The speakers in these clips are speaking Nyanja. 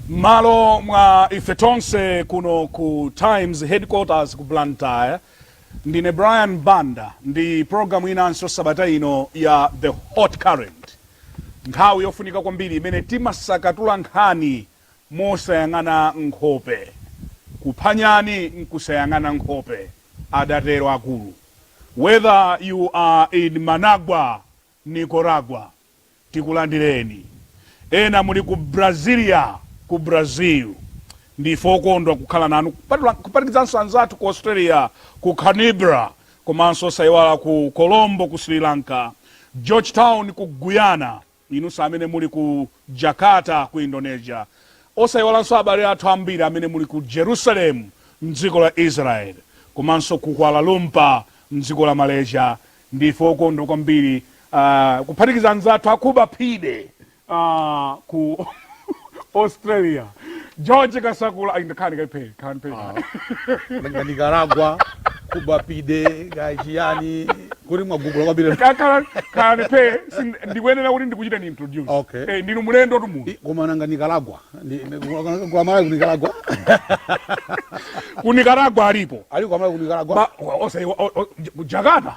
m'malo mwa ife tonse kuno ku times headquarters ku blantyre ndine brian banda ndi programu inanso sabata ino ya the hot current nthawi yofunika kwambiri imene timasakatula nkhani mosayang'ana nkhope. Kupha nyani nkusayang'ana nkhope, adatero akulu. Whether you are in Managua, Nicaragua, tikulandireni. Ena muli ku Brasilia, ku Brazil, ndife okondwa kukhala nanu kuphatikizanso anzathu ku Australia, ku Canberra, komanso osaiwala ku Colombo, ku Sri Lanka, Georgetown, ku Guyana. Inunso amene muli ku Jakarta, ku Indonesia. Osaiwalanso abale athu ambiri amene muli ku Jerusalem, m'dziko la Israel, komanso ku Kuala Lumpur, m'dziko la Malaysia. Ndife okondwa kwambiri, uh, kuphatikiza anzathu aku Budapest, uh, ku. australia george kasakula ayi ndakhani kaiphe khani phe nga nicaragua ku budapest nga chiyani kuti mwagugula kwambiri kakhala khani phe sin- ndikuyenera kuti ndikuchiteni introduce Okay. Eh, ndinu mulendotu munthu I- koma nanga nicaragua Ndi- ndi- kwa- kwa malawi ku nicaragua ku nicaragua alipo ali kwa malawi ku nicaragua Ba- o- ose- o- o- ku jakarta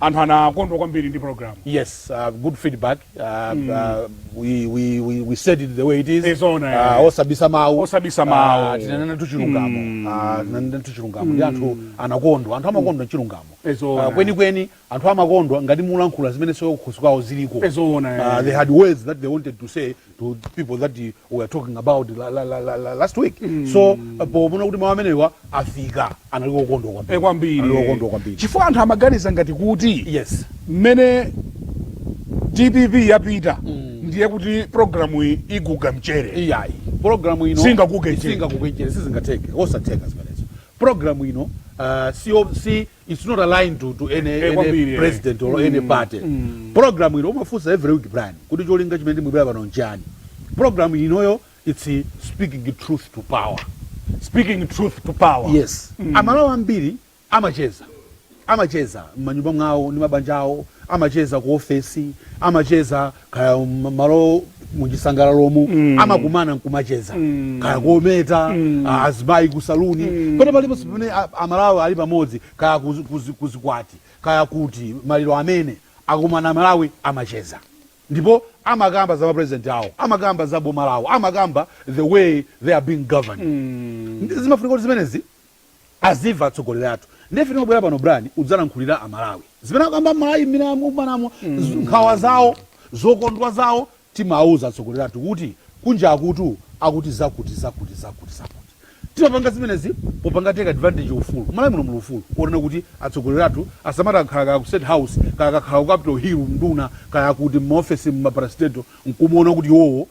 Anthu anakondwa kwambiri ndi program. Yes, uh, good feedback. Uh, mm. uh, we, we, we, we said it the way it is. Inde, uh, uh, osabisa mau. Osabisa mau. Uh, tinanenatu chilungamo. Mm. Uh, tinanenatu chilungamo. Mm. Ndi anthu anakondwa. Anthu amakondwa mm. chilungamo. It's on. Uh, kwenikweni, anthu amakondwa ngati mulankhula zimene ziwo kukhosi kwawo ziliko. It's on. Uh, they had words that they wanted to say, to people that we were talking about la, la, la, la, la, last week mm. so uh, poona kuti mawu amenewa afika anali okondwa kwambiri eh, kwambiri okondwa kwambiri chifukwa anthu amaganiza ngati kuti yes mmene dpp yapita mm. ndiye kuti programu iyi iguga mchere iyayi programu ino singaguge mchere singaguge mchere sizingatheke osatheka zimenezo programu ino uh, si, si it's not aligned to, to any, Eh, any kwambiri, eh. president or any party program ino mumafunsa every week brian kuti cholinga chimene timabwerera pano nchani program inoyo it's eh, speaking truth to power speaking truth to power yes amalawi ambiri amacheza amacheza m'manyumba mwawo ndi mabanja awo amacheza ku ofesi amacheza kaya malo m'zisangalalomu mm. amakumana nkumacheza mm. kaya kometa mm. Ah, azimayi ku saluni mm. pena paliponse pamene amalawi ali pamodzi kaya kuzikwati kaya kuti maliro amene akumana amalawi amacheza ndipo amakamba za mapresident awo amakamba za boma lawo amakamba the way they are being governed mm. zimafunika kuti zimenezi adziwa atsogoleri athu ndiye ife timabwera pano Brian kudzalankhulira amalawi zimene akukamba mmalawi mmene akumanamo mm. nkhawa zawo zokondwa zawo timawuza atsogoleri athu kuti kunja akutu akuti zakuti zakuti zakuti zakuti timapanga zimenezi osapanga take advantage ufulu malawi muno muli ufulu onena kuti atsogoleri athu asamati akakhala kaya ku state house kaya akakhala ku capital hill mnduna kaya kuti mmaofesi mmaparastatal nkumaona kuti iwowo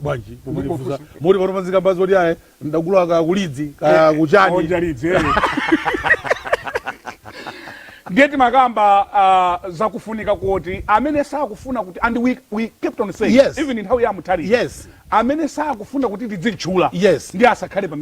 bwanji mumandifunsa moti pano panzikamba zoti ayi mdagula kaya kulidzi kaya eh, kuchani onja lidzi eh. ndiye timakamba uh, zakufunika kuti amene sakufuna kuti and we, we kept on saying yes. even nthawi ya mutharika yes. amene sakufuna kuti tidzitchula yes. ndiye asakhale pa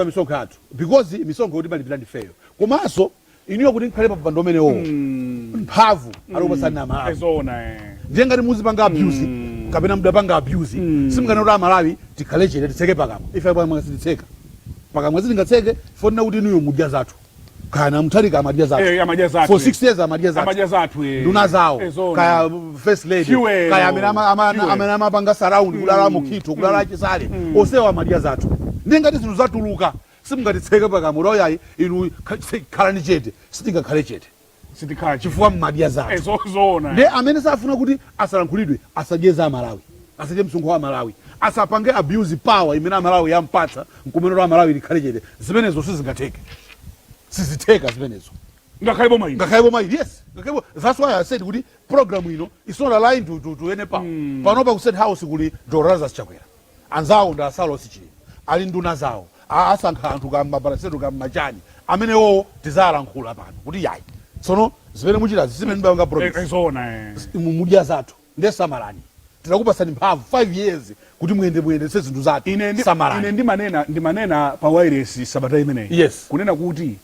misonkho yathu because misonkhoyo timalipira ndifeyo komanso inuyo kuti mukhale pa mpando umenewo Mm. mphamvu anakupatsani Eh, amalawi zoona eh. ndiye ngati muzipanga abuse Mm. kapena mudapanga abuse Mm. simunganene kuti amalawi tikhale chete titseke pakamwa ife pakamwa sititseka pakamwa sitingatseke ponena kuti inuyo mudya zathu kaya mutharika amadya zathu Eh, amadya zathu, for eh. 6 years amadya zathu amadya zathu eh. nduna zawo Eh, zoona. kaya first lady Fuel. kaya amene ama- ama- Fuel. amene amapanga surround kulala mukhitho kulala achisale osewa amadya zathu ndiye ngati zinthu zatuluka Simungatitseke pakamwa kuti oh yayi inu khalani chete. Sitingakhale chete chifukwa mmadya zathu. Ndiye amene safuna kuti asalankhulidwe asadye za amalawi. Asadye msonkho wa amalawi. Asapange abuse power imene amalawi ampatsa nkumanena kuti amalawi akhale chete. Zimenezo sizingatheke. Sizitheka zimenezo. Ngakhale boma ili. Ngakhale boma ili yes. That's why I said kuti program ino it's not aligned to any power. Panopa ku state house kuli Dr Lazarus Chakwera. Anzawo ndi a Saulos Chilima ali nduna zawo a asankha anthu kaya mma parastatal kaya mma chani amenewowo tidzalankhula pano kuti yayi tsono zimene muchitazi sizimene munapanga promise zi inu mudya zathu nde samalani tinakupatsani mphamvu 5 years kuti muyende muyendetse zinthu zathu Ine ndi, ine samalani ndimanena, ndimanena pa wailesi sabata imeneyi yes kunena kuti.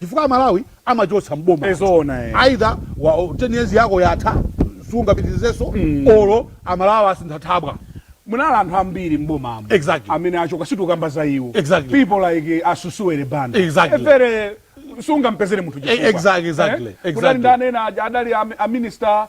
chifukwa amalawi amachoka m'boma Eh, anthu. zoona, eh. either 10 years yako yatha sungapitirizenso olo amalawi asintha thabwa munali anthu ambiri m'bomamo Exactly. amene achoka sitikukamba za iwo Exactly. people like asusuwele banda Exactly. mfere sungampezere munthu Eh, exactly, exactly, exactly. kudali ndani ena aja adali am- a minister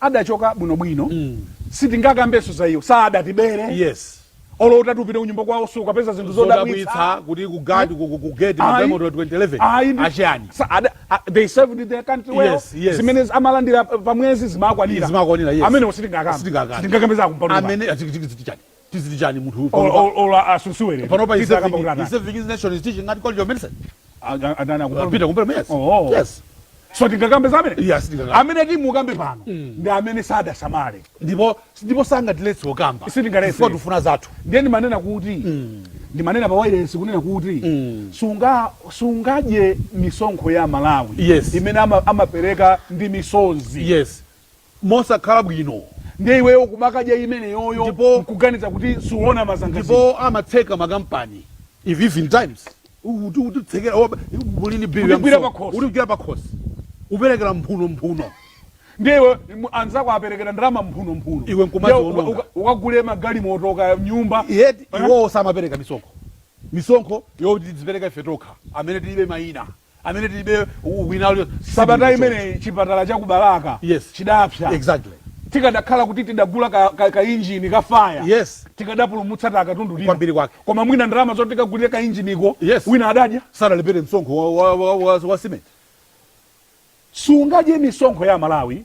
adachoka bwino bwino sitingakambenso za iwo sadatibere yes olo utati upite kunyumba kwawo sukapeza zinthu zodabwitsa zodabwitsa kuti ku guard ku ku- ku gate ma Ayi. galimoto 20 11 Ayi, ndi- achani sa- ada- a- they served their country well Yes, yes. zimene amalandira pa mwezi zimakwanira Zimakwanira, yes. amenewo sitingakambe Sitingakambe. sitingakambe za kumpando amene achiki chani timati chani munthu uyu panopa Olo olo asunsuwe lero. panopa he's Tita kamba serving, kuti he's atani. serving his nation he's teaching at college of medicine A- a- Atani akumpalume. Peter Kumpalume yes Oh. yes So tingakambe za amene. yes ndikaka Amene timukambe pano. Ndi amene sadasamale. ndipo ndipo sangatiletse okamba Sitingaletse. Chifukwa tufuna zathu Ndiye ndimanena kuti ndimanena pa wireless kunena kuti sunga sungadye misonkho ya Malawi Yes. imene ama- amapereka ndi misonzi. yes mosakhala bwino. Ndiye iweyo kumakadya imeneyoyo Ndipo- n'kuganiza kuti suona mazangazime. Ndipo amatseka makampani if at times uti utitsekera oba muli ni bill ya Kutigwira msonkho pakhosi. Kutigwira pakhosi uperekera mphuno mphuno Ndiye iwe mu- anzako aperekera ndalama mphuno mphuno. Iwe nkumati Ndiye uka- wononga. uka- ukagule magalimoto kaya nyumba. yet Eh? iwowo samapereka misonkho misonkho yoti tizipereka ife tokha amene tilibe mayina amene tilibe wina aliyense sabata imeneyi chipatala cha ku Balaka yes. chidapsa exactly. tikadakhala kuti tidagula ka, ka, ka injini ka faya yes. tikadapulumutsa takatundu lino kwambiri kwake koma mwina ndalama zoti tikagulire ka injiniko yes. wina adadya sadalipire msonkho wa, wa, wa, wa, wa simenti sungadye misonkho ya Malawi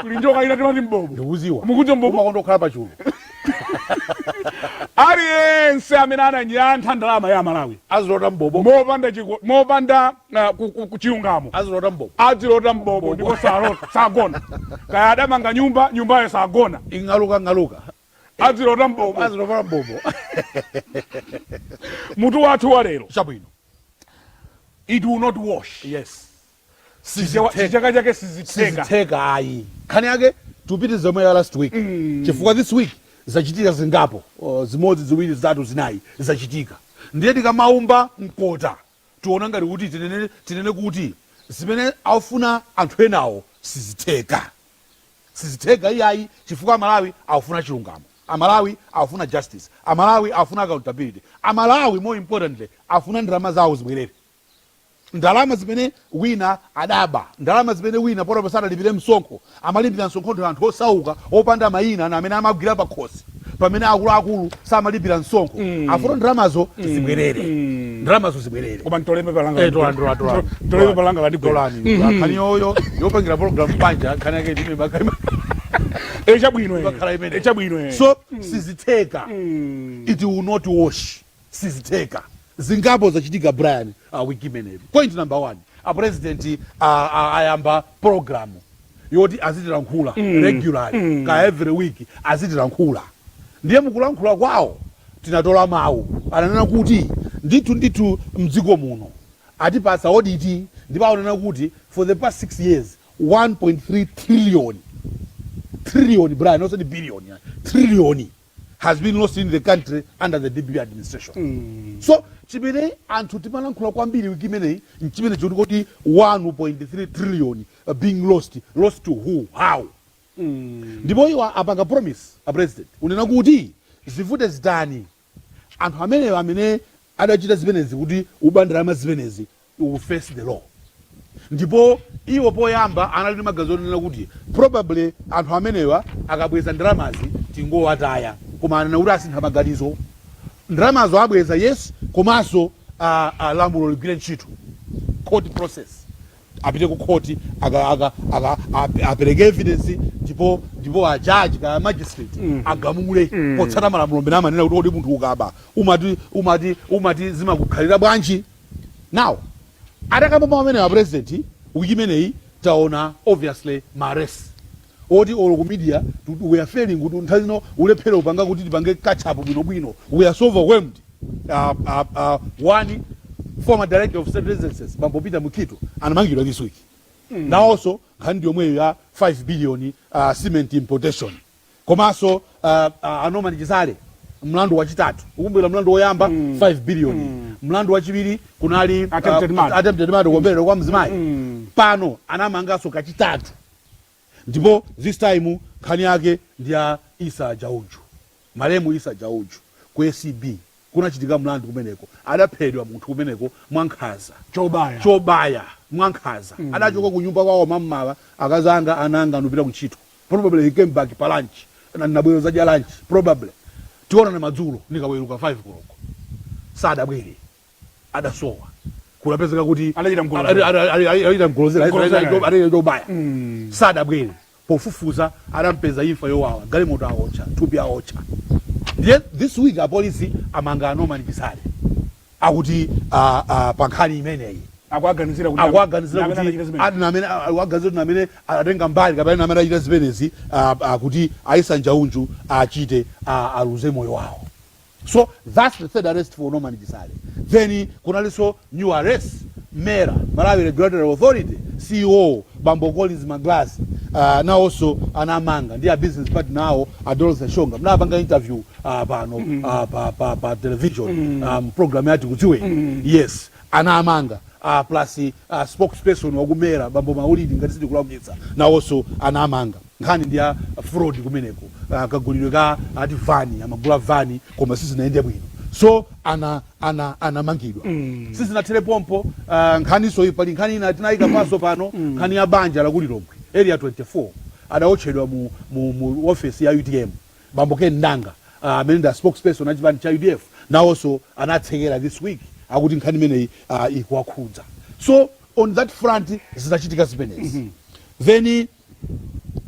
kuli njoka ina timati mbobo ndikudziwa Mukuti mbobo? umakonda kukhala pachulu aliyense amene ananyantha ndalama ya Malawi azilota mbobo mopanda chiko- mopanda ah, ku- ku- ku- chilungamo azilota mbobo adzilota mbobo ndipo salota sagona kaya adamanga nyumba nyumbayo sagona ing'aluka ng'aluka adzilota mbobo azilota mbobo mutu wathu wa lero chabwino it will not wash yes Chichewa- Sizithe- chichaka chake sizitheka sizitheka ayi nkhani yake tipitirize zomwe ya last week chifukwa this week zachitika zingapo oh, zimodzi ziwiri zitatu zinayi zachitika ndiye tikamaumba mkota tiona ngati kuti tinene, tinene kuti zimene akufuna anthu enawo sizitheka sizitheka iyayi chifukwa Amalawi akufuna chilungamo Amalawi akufuna justice Amalawi akufuna accountability Amalawi more importantly afuna ndalama zawo zibwerere ndalama zimene wina adaba, ndalama zimene wina potopa sadalipire msonkho, amalipira msonkho ndi anthu osauka opanda mayina ndi amene amagwira pakhosi pamene akuluakulu samalipira msonkho afuna ndalamazo zibwerere ndalamazo zibwerere koma ntole pepa langa Eh, tolani, tolani, tolani. ntole pepa langa landigwera nkhani yoyo yopangira program panja nkhani yake ndi imeneyo bakhaima eh chabwino eh. bakhala Eh, imene chabwino eh. so sizitheka it will not wash sizitheka. Zingapo zachitika Brian wiki imeneyi. Point number one, a president a a ayamba program yoti azitilankhula regularly kaya every week azitilankhula. Ndiye mukulankhula kwawo tinatola mawu ananena kuti ndithu ndithu mdziko muno atipatsa audit ndipo ananena kuti for the past six years 1.3 trillion, trillion Brian osati billion ayi, trillion. has been lost in the country under the dpp administration mm. so chimene anthu timalankhula kwambiri wiki imeneyi nchimene choti kodi 1.3 trillion uh, being lost lost to who how mm. ndipo mm. iwo apanga promise a president unena kuti zivute zitani anthu amenewo amene adachita zimenezi kuti uba ndalama zimenezi will face the law ndipo iwo poyamba anali ndi maganizo onena kuti probably anthu amenewa akabweza ndalamazi tingowataya koma anena kuti asintha maganizo ndalamazo abweza yes komanso a, a lamulo ligwire ntchito court process apite ku khoti aka aka aka ap- apereke evidence ndipo ndipo a judge kaya magistrate agamule potsata malamulo amene amanena kuti kodi munthu ukaba umati umati umati zimakukhalira bwanji now atakamba mawu amenewa a president wiki imeneyi taona obviously ma arrest oti olo ku media kuti we are failing kuti nthawi zina ulephere upanga kuti tipange catch up bwino bwino we are so overwhelmed aah aah aah one former director of state residences bambo peter mukhito anamangidwa this week nawoso nkhani ndiyomweyo ya 5 billion uh, cement importation komaso uh, uh, a norman chisale mlandu wachitatu ukumbukira mlandu woyamba 5 billion mlandu wachiwiri kunali Attempted murder. attempted murder kuombeledwa kwa mzimayi pano anamangaso kachitatu ndipo this time nkhani yake ndi ya Issa Njauju, malemu Issa Njauju ku acb kunachitika mlandu kumeneko, adaphedwa munthu kumeneko mwankhanza, Chobaya. chobaya mwankhanza, adachoka kunyumba kwawo mammawa, akazi anga, ana anga ndupita kuntchito, probably he came back pa lunch, na nabwera kudzadya lunch, probably tionana madzulo nikaweruka 5 koloko, sadabwere, adasowa kunapezeka kuti Adachita mgolozera. ada- ada- ada- adachita mgolozera, Mgolozera. adachita- adachita chobaya sadabwere pofufuza adampeza imfa yowawa galimoto aotcha thupi aotcha ndiye this week apolisi amanga a norman chisale akuti ah, ah, pa nkhani imeneyi akuaganizira kuti akuwaganizira amene anachita kuti zimene. ati namene akuwaganizira kuti namene anatenga mbali kapena namene achita zimenezi ah, ah, kuti a issa njauju achite ah, aluze moyo wawo so thats the third arrest for norman chisale then kunalinso new arrest mera malawi regulatory authority ceo bambo collins magalasi uh, nawonso anamanga ndi a business partner awo a dorothy shonga mnapanga interview uh, pano uh, pa, pa, pa television um, program ya tikudziweni yes anamanga uh, plus uh, spokesperson wa ku mera bambo maulidi ngati sindikulakwitsa nawonso anamanga nkhani ndi ya fraud kumeneko kagulidwe ka ati van amagula van koma sizinayende bwino so ana ana anamangidwa mm. sizinathele pompo uh, nkhani so iyi pali nkhani ina tinayika paso pano mm. nkhani ya banja la ku Lilongwe area 24 adaotchedwa mu, mu, mu office ya utm bambo Ken Ndanga uh, amene uh, ndi spokesperson a chipani cha udf nawonso anatsekeredwa this week akuti nkhani imeneyi uh, ikuwakhudza so on that front zitachitika zimenezi mm -hmm. then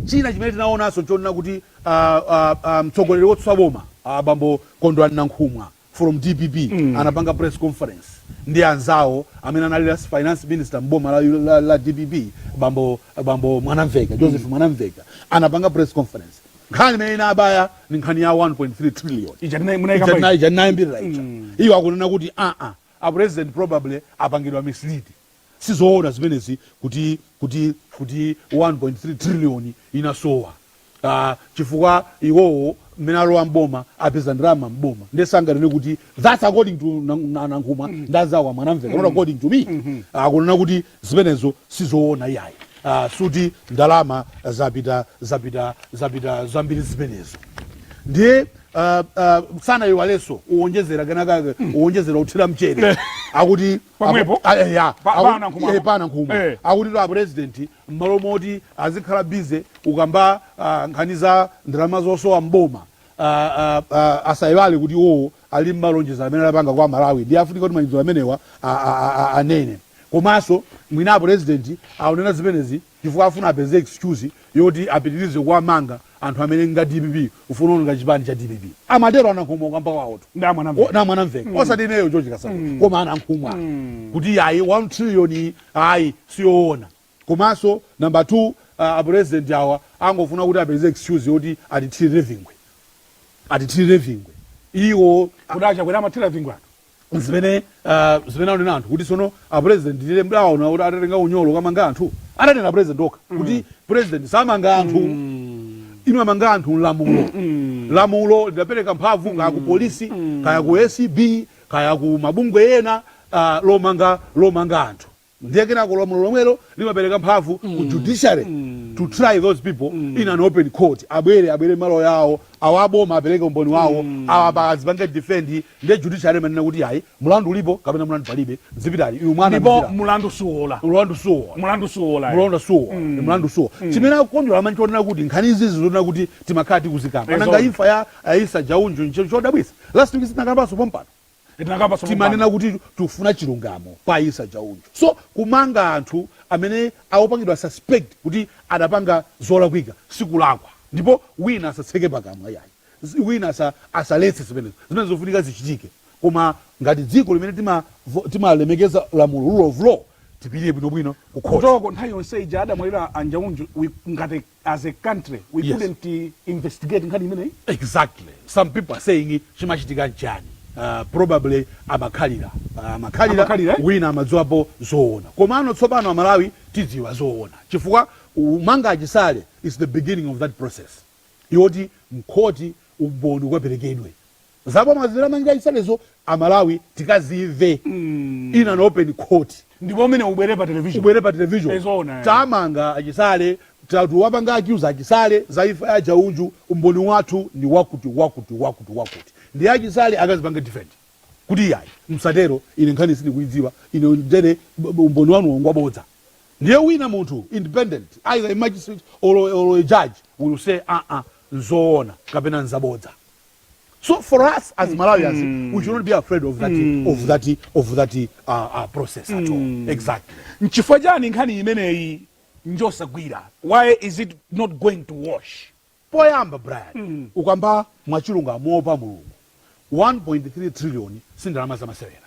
China chimene tinaonanso n'chonena kuti a, a, a, mtsogoleri wotsutsa boma a bambo Kondwani Nankhumwa from dpp anapanga press conference ndi anzawo amene anali last finance minister m'boma la, la, la dpp bambo, bambo Mwanamveka Joseph Mwanamveka anapanga press conference nkhani imene inabaya ndi nkhani ya 1.3 trillion Ija tinai- munaikamba ija. ija tinayimbirira ija iyo akunena kuti aa a president probably apangidwa misled sizoona zimenezi kuti kuti kuti 1.3 trillion inasowa ah, chifukwa iwowo mmene alowa mboma apeza ndalama mboma nde sanganene kuti that's according to Nan- Na- nankhumwa ndi anzawo a Mwanamveka not according to me akunena kuti zimenezo sizoona iyayi Ah, sikuti ndalama zapita zapita zapita zambiri zimenezo ndiye uh, uh, sanaiwalenso uwonjezera kenakake uwonjezera uthira mchere akuti Pomwepo? Apo- ah, eh, ya. Pa- Aku- pana nkhumwa. eh, pana nkhumwa Eh. akutitu apurezidenti mmalo moti azikhala busy ukamba ah, nkhani za ndalama zosowa mboma ah, ah, ah, asayiwale kuti iwowo ali ndi malonjezo amene anapanga kwa Amalawi ndiye afunika kuti malonjezo amenewa ah, ah, ah, ah, anene komanso mwina apurezidenti akunena zimenezi chifukwa afuna apeze excuse yoti apitirize kuwamanga anthu amene nga DPP ufuna kuononga chipani cha dpp amatero a Nankhumwa kukamba kwawotu Ndi amwana mve. O- namwe anamveka mm. osati ineyo George Kasakula mm. koma a Nankhumwa mm. kuti ayi 1 trillion iyi, ayi siyoona komanso namba 2 uh, apresident awa angofuna kuti apeze excuse yoti atithirire vingwe atithirire vingwe iwo Kuti a Chakwera amathira vingwe anthu. zimene uh, zimene anena anthu kuti sono a president ndi liti mudaona kuti atatenga unyolo kukamanga anthu ananena president okha mm. kuti president samanga anthu mm. imamanga anthu ndi lamulo mm. lamulo lidapereka mphamvu kaya ku polisi kaya ku acb kaya ku mabungwe ena uh, lomanga lomanga anthu Ndiye kenako lamulo lomwelo limapereka mphamvu ku judiciary to try those people in an open court. Abwere, abwere ndi maloya awo, awa a boma apereke umboni wawo, awa apa azipange defend, ndiye judiciary imanena kuti ayi, mlandu ulipo kapena mlandu palibe, zipitani, inu mwana Ndipo mzira. mlandu suwola. Mlandu suwola. Mlandu suwola. eh. Mlandu suwola. Mlandu suwola. Chimene chikukondweretsa ine nchonena kuti nkhani izizi zonena kuti timakhala tikuzikamba. Nanga Ezo. imfa ya a Issa Njauju ncho chodabwitsa. Last week sitinakambanso pompano. timanena kuti tufuna chilungamo pa Issa Njaunju so kumanga anthu amene aopangidwa suspect kuti adapanga zolakwika sikulakwa ndipo wina asatseke pakamwa iyayi wina asa asaletse zimenezo zimenezo zofunika zichitike koma ngati dziko limene tima timalemekeza lamulo rule of law tipirire bwinobwino kukhoti kutoko nthawi yonse ija adamwalira a Njaunju we ngati as a country we yes. couldn't uh, investigate nkhani imeneyi exactly some people are saying chimachitika nchani uh, probably amakhalira uh, amakhalira eh? wina amadziwapo zoona komano tsopano amalawi tidziwa zoona chifukwa kumanga a Chisale is the beginning of that process yoti mkhoti umboni ukaperekedwe Zabodza zimene amachita a Chisalezo amalawi tikazimve in an open court. Ndipo umene ubwere pa television. Ubwere pa television. Ezoona. Tamanga a Chisale tawapanga accuse a Chisale za imfa ya a Njaunju umboni wathu ndi wakuti wakuti wakuti wakuti ndiye a Chisale akazipange defend kuti iyayi msatero ine nkhani sindikuidziwa ine ndipo umboni wanuwo ngwabodza ndiye wina munthu independent either a magistrate or, or a judge will say aa nzoona kapena nzabodza. so for us as mm. malawians mm. we should not be afraid of that, mm. of that, of that uh, uh, process at all mm. exactly nchifukwa chani nkhani imeneyi njosagwira why is it not going to wash poyamba brian mm. ukamba mwachilungamo pa mulungu 1.3 trillion sindalama zamasewera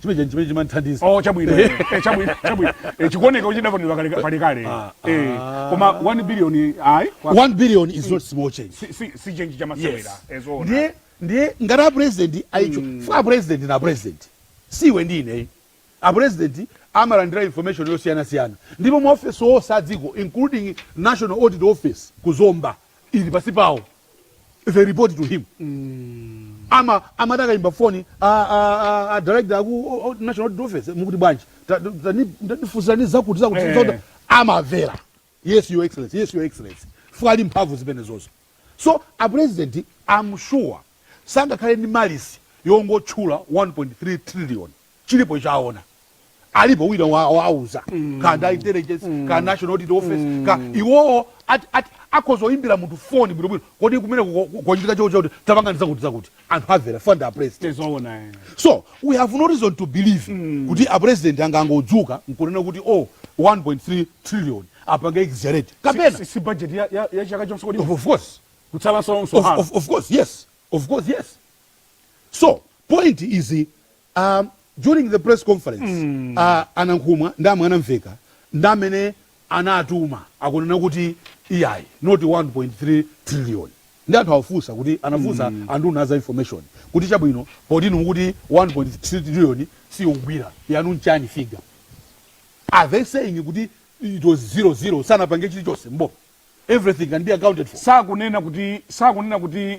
chimene chani chimene chimanthandiza oh chabwino eh, eh, chabwino chabwino eh, chikuoneka kuti chidaponedwa kale kale kale Ah, eh ah. koma 1 billion ayi kwa- 1 billion is not small change si si si change chamasewera Yes. ezoona ndiye ndiye ngati apresident ali icho afuna apresident na apresident siwe ndine apresident amalandira information yosiyanasiyana ndipo maofesi onse adziko including national audit office ku zomba ili pansi pawo they report to him ama amatha kuyimba foni a- a- a- a director aku o- o- national audit office mukuti bwanji Ta- ta- tani- tatifunsirani zakuti zakuti Eh. zakuti. amamvera yes your excellency yes your excellency fuka ali mphamvu zimenezozo so a president I'm sure sangakhale ndi malice yongotchula 1.3 trillion chilipo icho aona alipo wina wawauza mm. kaya ndi intelligence mm. kaya national audit office mm. kaya iwowo akhoza kuyimbira munthu foni bwinobwino kodi kumene kuchitika choko chakuti tapangani zakuti zakuti anthu amamvera pwiii a president eh. so we have no reason to believe mm. kuti a president angangodzuka nkunena kuti oh 1.3 trillion apange exaggerate kapena si, si budget ya, ya, ya chaka chonse kodi of course kutsala sonso of, of, of course yes of course yes so point is um, during the press conference mm. uh, a nankhumwa ndi a mwanamvekha ndi amene anatuma akunena kuti iyayi not 1.3 trillion ndi anthu awafunsa kuti anafunsa mm. anduna a za information kuti chabwino potinu mukuti 1.3 trillion siyogwira yanu nchani figure are they saying kuti it was zero zero sanapange chilichonse mbo everything can be accounted for sakunena kuti sakunena kuti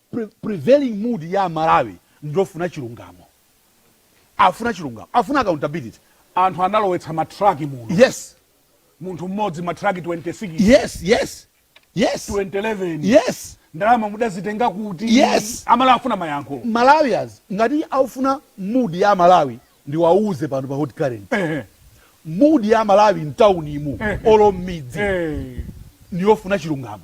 pre, prevailing mood ya amalawi ndiyofuna chilungamo afuna chilungamo afuna accountability anthu analowetsa ma truck muno yes munthu mmodzi ma truck 26 yes yes yes 2011 yes ndalama mudazitenga kuti Yes. amalawi afuna mayankho malawians ngati aufuna mood ya malawi ndiwauze pano pa hot current Ehe, mood ya malawi mtaunimu ehe. olo mmidzi ehe. ndiyofuna chilungamo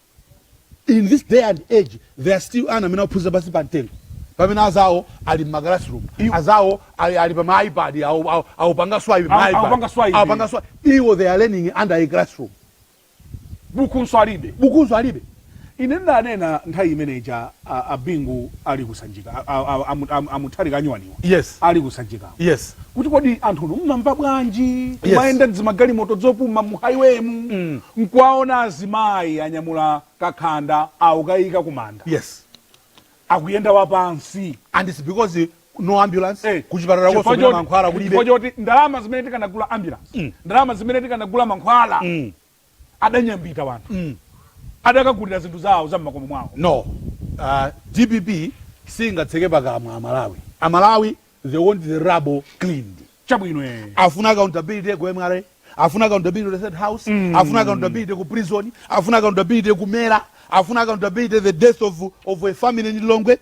in this day and age there are still ana amene akuphunzira pansi pa mtengo pamene azawo ali mma classroom azawo ali, ali pa ma ipad awupanga swipe ma ipad awupanga swipe awupanga swipe iwo they are learning under a classroom bukunso alibe bukunso alibe ine ndanena nthawi imene ija a a Bingu ali ku Sanjika a a a a Mu- a Mu- a Mutharika anyuwaniwa Yes. ali ku Sanjikako Yes. kuti kodi anthunu mmamva bwanji kumayenda mdzimagalimoto dzopuma mu highway mu nkuwaona azimayi anyamula kakhanda aukayika kumanda Yes. akuyenda wapansi And it's because eh, no ambulance Eh, kuchipatala chifukwa kosopita choti- mankhwala chifukwa kulibe. choti ndalama zimene tikanagula ambulance ndalama zimene tikanagula mankhwala adanyambita wanthu mm. adakagulira zinthu zawo za mmakomo mwawo no uh, dpp singatseke pakamwa amalawi amalawi they want the rubble cleaned chabwino eh. afuna accountability ku mra afuna accountability ku state house mm. afuna accountability ku prison afuna accountability ku mera afuna accountability the death of, of a family in lilongwe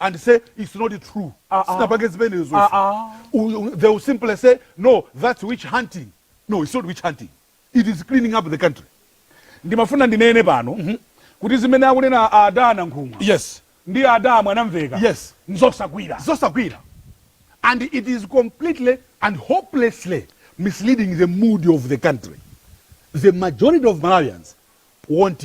and say its not true ah, ah. sinapange zimenezo ah, they will simply say no that's witch hunting no it's not witch hunting it is cleaning up the country ndimafuna ndinene pano mm -hmm. kuti zimene akunena ada nankhumwa yes ndi ada mwanamvekha yes nzosagwira zosagwira and it is completely and hopelessly misleading the mood of the country the majority of malawians want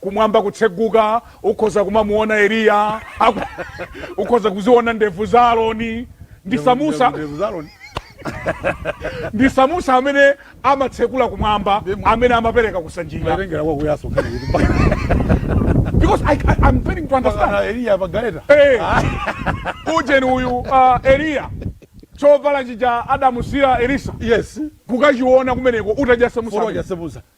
kumwamba kutseguka, ukhoza kumamuona Eliya, aku- ukhoza kuziona ndevu za Aroni ndi Samusa Ndevu za Aroni. ndi Samusa amene amatsekula kumwamba, Ndimo. amene amapereka kusanjika. Matengera kwa kuyaso nkhani kuti mpaka- Because I, I, I'm failing to understand. mpaka Eliya pa galeta. Hey, ujeni uyu uh, Eliya chovala chija adamusiyira Elisa Yes. kukachiona kumeneko utajasa Foro musa. ajasebuza.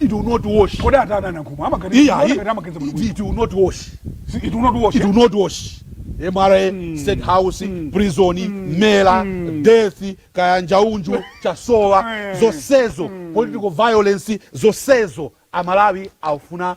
It will not wash. Kodi atani anankhumwa amaganiza Iya, kuona i- ngati amaganiza bwino it, bwino. it will not wash. Si- It will not wash. It will not wash. MRA, State House, prison, mela, death, kayanjaunju, chasowa, Eh. zosezo, political violence, zosezo. Amalawi aufuna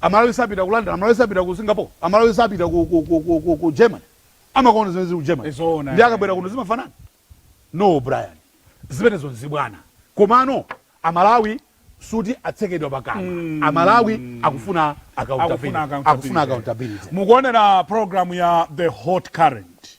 Amalawi sapita ku London, Amalawi sapita ku Singapore, Amalawi sapita ku, ku, ku, ku, ku, ku Germany. Amakaona zimene zili ku Germany. Zoona, Ndiye eh. akabwera kuno zimafanana? No, Brian. Zimenezo nzachibwana. Komano Amalawi suti atsekedwa pakamwa. Amalawi akufuna accountability. Akufuna accountability. Akufuna accountability. mukuonera program ya the hot current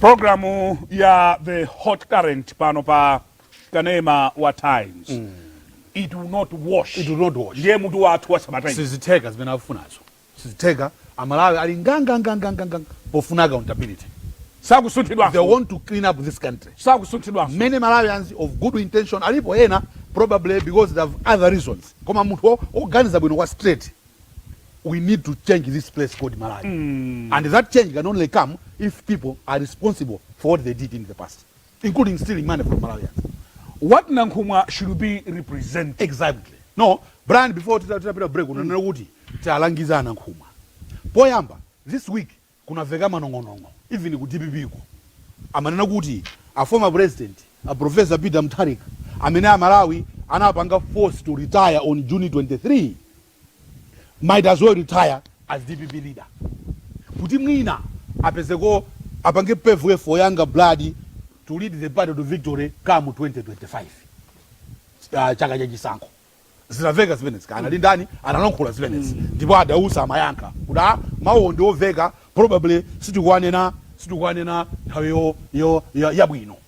programu ya the hot current pano pa kanema wa times mm. it will not wash it will not wash ndiye mutu wathu wa sabatayi sizitheka zimene akufunazo Sizitheka, amalawi ali ngangangangangangang pofuna accountability. Sakusunthidwanso uku. They want to clean up this country. Sakusunthidwanso. Many Malawians of good intention alipo ena probably because they have other reasons koma munthu oganiza bwino kwa straight we need to change this place called Malawi and that change can only come if people are responsible for what they did in the past. including stealing money from Malawians. What Nankhumwa should be representing exactly? No, Brian before titapita break mm. unanena kuti tialangiza a Nankhumwa. Poyamba, this week kunaveka manong'onong'o even ku DPP ko. Amanena kuti a former president, a Professor Peter Mutharika, amene a Malawi anapanga force to retire on June 23 might as well retire as dpp leader kuti mwina apezeko apange pave for younger blood to lead the party to victory come 2025 uh, chaka cha chisankho zinaveka zimenezi kaya anali ndani analankhula zimenezi ndipo adausa amayankha kuti a mawu ndi oveka probably sitikuwanena sitikuwanena nthawi yo- yo- ya- yabwino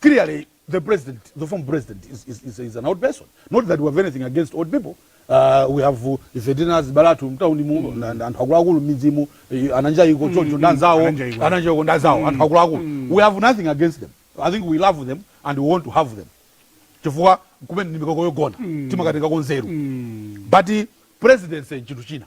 clearly the president, the former president, is, is, is, is an old person. Not that we have anything against old people. Uh, we have uh, ife tinazibulatu mtauni mu mm. na- na- anthu akuluakulu m'midzi mu eh, a Nanjaiko choncho ndanzawo a Nanjaiko. a Nanjaiko ndanzawo anthu akuluakulu we have nothing against them i think we love them and we want to have them chifukwa kumene ndi mikoko yogona timakatenga ko nzeru but presidency chinthu china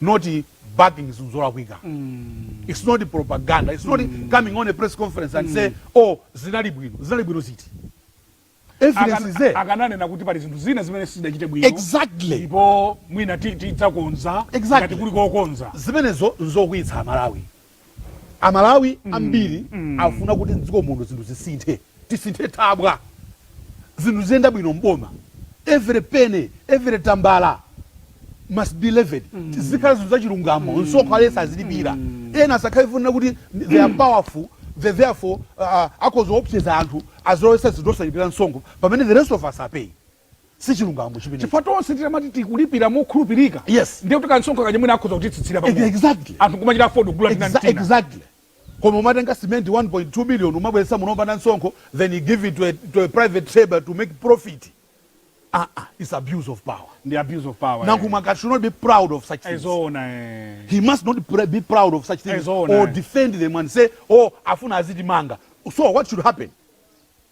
not backing zinthu zolakwika its not propaganda its not coming on a press conference and say oh zinali bwino zinali bwino ziti evidence Akan- is there akananena kuti pali zinthu zina zimene sizidachite bwino exactly ndipo mwina ti- tidzakonza Exactly. ngati kuli kokonza zimenezo nzokwiyitsa amalawi A Malawi ambiri afuna kuti m'dziko muno zinthu zisinthe, tisinthe thabwa, zinthu ziziyenda bwino m'boma, every penny, every tambala must be levied, zizikhala zinthu za chilungamo, msonkho aliyense azilipira, ena asakhale chifukwa chonena kuti they are powerful, they therefore akhoza kuopseza anthu, azilowetsa zinthu osalipira msonkho pamene the rest of us are paying. sichilungamo chimenecho chifukwa tonse titamati tikulipira mokhulupirika yes ndiye kuti kansonkho kaja mwina akhoza kutitsitsira pamwe exactly anthu kumachita afford kugula tina ndi tina exactly koma umatenga cement 1.2 million umabweretsa muno opanda msonkho then you give it to a, to a private trader to make profit ah ah it's abuse of power ndi abuse of power Nankhumwa should not be proud of such things ezoona eh he must not pr be proud of such things Ezoona, or eh. defend them and say oh afuna azitimanga so what should happen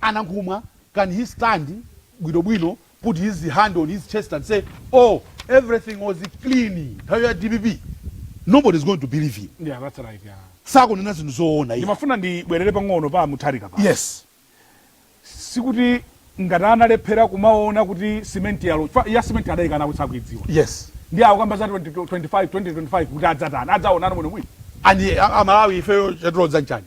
Anankhumwa can he stand bwino bwino put his hand on his chest and say oh everything was clean nthawi ya dpp? Nobody is going to believe him. Yeah, that's right, yeah. Sakunena zinthu zoona iye. Ndimafuna ndibwerere pang'ono pa a Mutharika pano. Yes. Sikuti ngati adalephera kumaona kuti simenti yalowa chifukwa ya simenti adaikana kuti sakuidziwa. Yes. Ndiye akukamba za 2025 2025 kuti adzatani adzaona bwino bwino. And a Malawi ifeyo chatilodza nchani?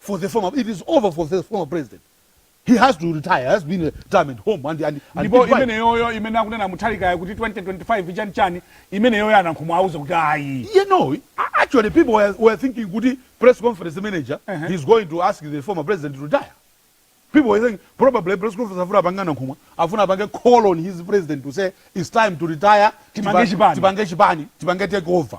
for the former it is over for the former president he has to retire has been a time at home and and, and ndipo imene yoyo imene akunena muthalikayo kuti 2025 chani chani imene yoyo anankhumwa auze kuti ayi you know actually people were, were thinking kuti press conference manager uh -huh. he's going to ask the former president to retire people were saying probably press conference afuna apange nkhumwa afuna apange call on his president to say it's time to retire tipange chipani tipange take over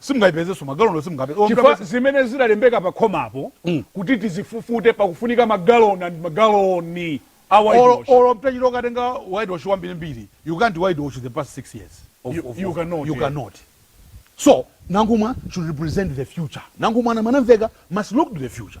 Simungaipezenso, magaloniwo simungawapeze. Olo Chifukwa mutapeza. zimene zidalembeka pa khomapo kuti tizifufute pakufunika magaloni and magaloni a Olo, whitewash. olo utachita ukatenga whitewash wambiri mbiri, you can't whitewash the past 6 years. Of, You- of, you of, cannot, You yeah. cannot. So, Nankhumwa should represent the future. Nankhumwa ana- anamveka must look to the future.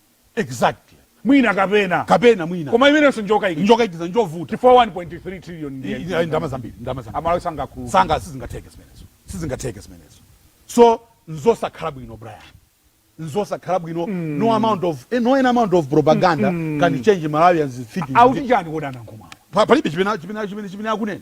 Exactly. Mwina kapena. Kapena mwina. Koma imenenso njokaikiza. Njokaikiza njovuta. Chifukwa 1.3 trillion ndi ndi ndama zambiri, ndama zambiri. Amalawi sangakhululuke. Sanga sizingatheke zimenezo. Sizingatheke zimenezo. So nzosakhala bwino Brian. Nzosakhala bwino mm. no amount of eh, no an amount of propaganda mm. can change Malawians thinking. Akuti chani kodi a Nankhumwa. Pa, palibe chimene chimene chimene chimene akunena.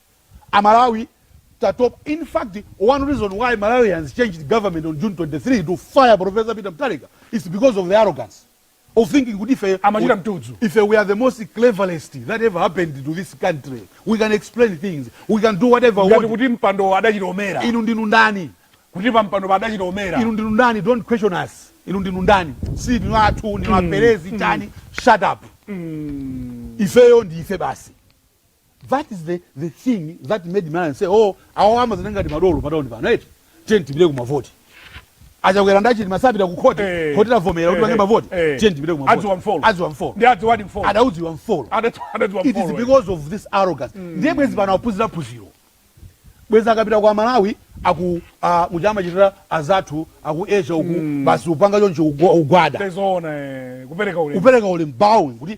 Amalawi tatopa in fact one reason why Malawians changed government on June 23 to fire Professor Peter Mutharika is because of the arrogance of thinking kuti ife Amachita mtudzu. ife we are the most cleverest that ever happened to this country we can explain things we can do whatever we ngati want kuti mpandowo adachilomera inu ndinu ndani kuti pampandopo adachilomera inu ndinu ndani don't question us inu ndinu ndani si ndinu anthu ndinu aperezi achani shut up ifeyo ndi ife basi That is the the thing that made Malawians say oh awawa amadziona ngati madolo pa town pano eti tiyeni tipite ku mavoti. A Chakwera ndi a Chilima apita ku khoti, Eh. khoti lavomera kuti Eh, pange eh, mavoti, eh. tiyeni tipite ku mavoti. Adziwa mfolo. Adziwa mfolo. Nde adziwadi mfolo. Adaudziwa mfolo. Adau- adaudziwa It is mfolo, eh. because of this arrogance. Ndiye bwezi pano aphunzira phunziro. Bwezi akapita kwa Malawi aku ah, muja amachitira azathu aku Asia uku basi upanga choncho ugwa- ugwada. Zoona eh, kupereka ulemu. Upereka ulemu bowing kuti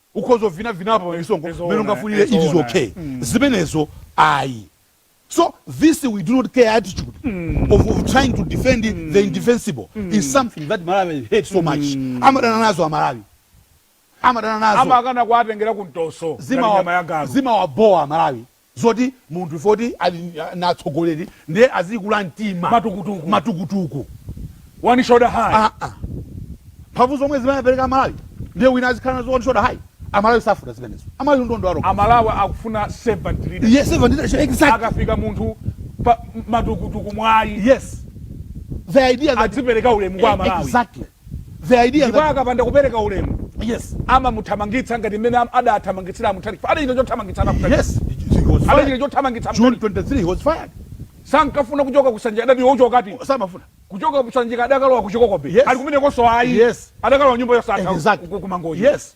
ukhoza uvinavina apa pamisonko mmene Zoona, ungafunire it is zoona. okay zimenezo ayi so this we do not care attitude of, of trying to defend the indefensible is something that malawi hate so much amadana nazo amalawi amadana nazo amakana kuwatengera ku mtoso ngati nyama ya zimawa galu zimawabowa amalawi zoti munthu woti ali ndi atsogoleri ndiye azikula mtima matukutuku matukutuku one shoulder high aa mphamvu zomwe zimene amapereka amalawi ndiye wina azikhala nazo one shoulder high amalawi safuna zimenezo amalawi ndi anatopa nazo amalawi akufuna servant leadership yes servant leadership exactly akafika munthu pa matukutuku ayi yes the idea that azipereka ulemu kwa e- amalawi exactly the idea ndipo that akapanda kupereka ulemu yes amamuthamangitsa ngati mmene am- adathamangitsira a Mutharika Chifukwa adachita chothamangitsa a Mutharika yes he, he he was adachita fired chothamangitsa June a Mutharika 23 he was fired sankafuna kuchoka ku Sanjika adati iwe uchokatu samafuna kuchoka ku Sanjika adakalowa ku Chikoko Bay Yes. ali kumenekonso ayi Yes. adakalowa nyumba yosatha Exactly. ku- ku- ku Mangochi Yes.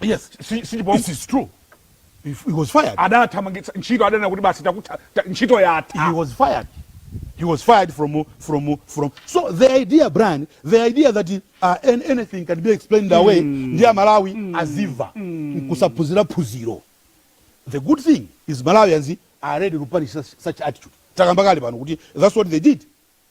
Yes, si, si, it is true. He, he was fired. Adathamangitsa ntchito adanena kuti basi takutha ntchito yatha. He was fired. He was fired from from from. So the idea Brian, the idea that uh, anything can be explained mm. away ndi Malawi mm. aziva mm. nkusaphunzira phunziro. The good thing is Malawians are ready to punish such, such attitude. Takambakali pano kuti that's what they did.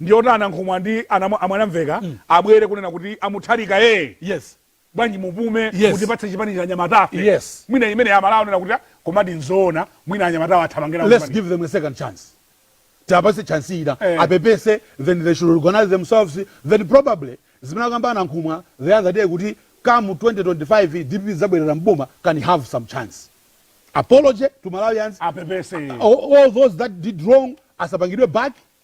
Ndi oti a Nankhumwa ndi a Mwanamveka abwere kunena kuti a Mutharika ee Yes. bwanji mupume Yes. mutipatse chipani ichi anyamatafe Yes. mwina imeneyi Amalawi anena kuti ah, komadi nzoona mwina anyamatawa athamanga ku Let's chipani. give them a second chance. Tiwapatse chance ina. Eh. Apepese then they should organize themselves then probably zimene akamba a Nankhumwa the other day kuti come 2025 DPP idzabwerera m'boma can have some chance. Apology to Malawians. Apepese. all, all those that did wrong asapangidwe back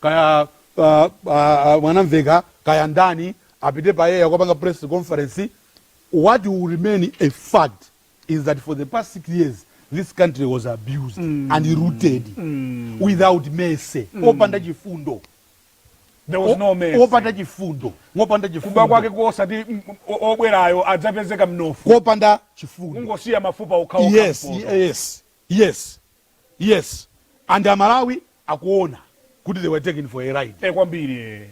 kaya uh, uh, Mwanamveka kaya ndani apite pa air kukapanga press conference what will remain a fact is that for the past six years this country was abused mm. and looted mm. without mercy mm. opanda chifundo there was no mercy opanda chifundo ngopanda chifundo kuba kwake kosati obwerayo adzapezeka mnofu kopanda chifundo ungosiya mafupa okhawo yes yes yes Yes and Amalawi akuona kuti they were taken for a ride. Eh kwambiri eh.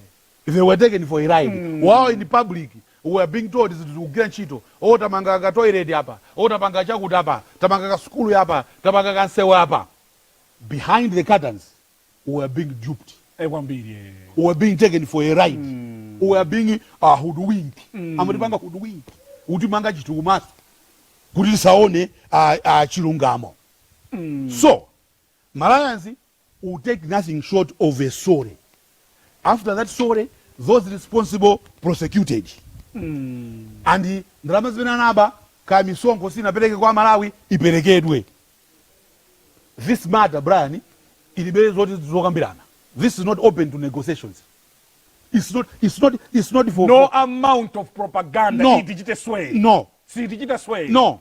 They were taken for a ride. Mm. While in public we were being told zinthu zikugwira ntchito. Oh tamanga ka toilet apa. Oh tapanga chakuti apa. Tamanga ka sukulu apa. Tapanga ka nsewu apa. Behind the curtains we were being duped. Eh kwambiri eh. We were being taken for a ride. Mm. We were being uh, hoodwinked. Mm. Amatipanga hoodwinked. Utimanga chinthu kumaso. Kuti tisaone uh, uh, chilungamo. so malawians will take nothing short of a sorry after that sorry those responsible prosecuted and ndalama zimene anaba kaya misonkho sinapereke kwa malawi iperekedwe this matter brian ilibe zoti zokambirana this is not open to negotiations it's not, it's not, it's not for, no for, amount of propaganda No. itichite sway no sitichita sway no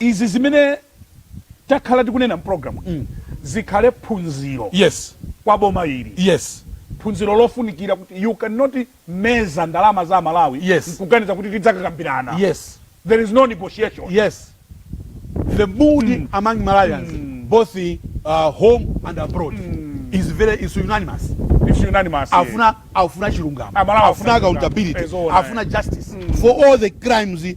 Izi zimene takhala tikunena mu program iyi zikhale phunziro Yes kwa boma ili. Yes phunziro lofunikira kuti you can not meza ndalama za Amalawi Yes nkuganiza kuti tidzakambirana Yes there is no negotiation. Yes the mood among Malawians both home and abroad is very is unanimous It's unanimous. afuna afuna chilungamo Amalawi afuna afuna accountability chilungamo. Eh, zoona, eh. afuna justice for all the crimes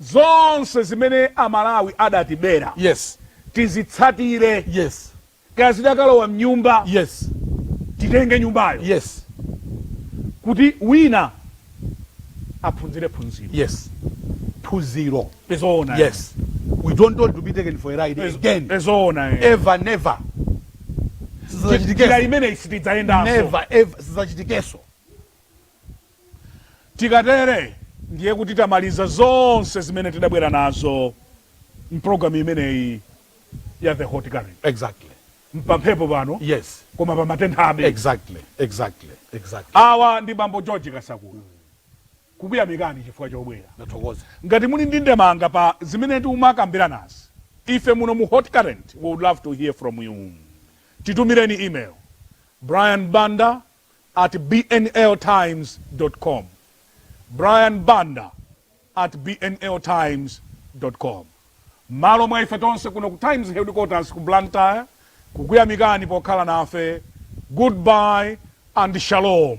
Zonse zimene Amalawi adatibera Yes. tizitsatire. Yes. Kaya zidakalowa m'nyumba, Yes. titenge nyumbayo Yes. kuti wina aphunzire phunziro. Yes. Phunziro. Ezoona. Yes. We don't want to be taken for a ride Ezo- again. Ezoona. eh. Ever, never. Njira Sizachitikanso. imeneyi sitidzayendanso. Never, ever. Sizachitikanso. Tikatere ndiye kuti tamaliza zonse zimene tidabwera nazo m'programu imeneyi ya The Hot Current. Exactly. Mpamphepo pano Yes. koma pamatenthabe. Exactly. Exactly. Exactly. Awa ndi Bambo George Kasakula. Kukuyamikani chifukwa chobwera. Ndathokoza. Ngati muli ndi ndemanga pa zimene timakambiranazi, ife muno mu Hot Current we would love to hear from you. Titumireni email, brian banda at bnltimes.com, Brian Banda at bnltimes.com. M'malo mwa ife tonse kuno ku Times Headquarters ku Blantyre kukuyamikani pokhala nafe, goodbye and shalom!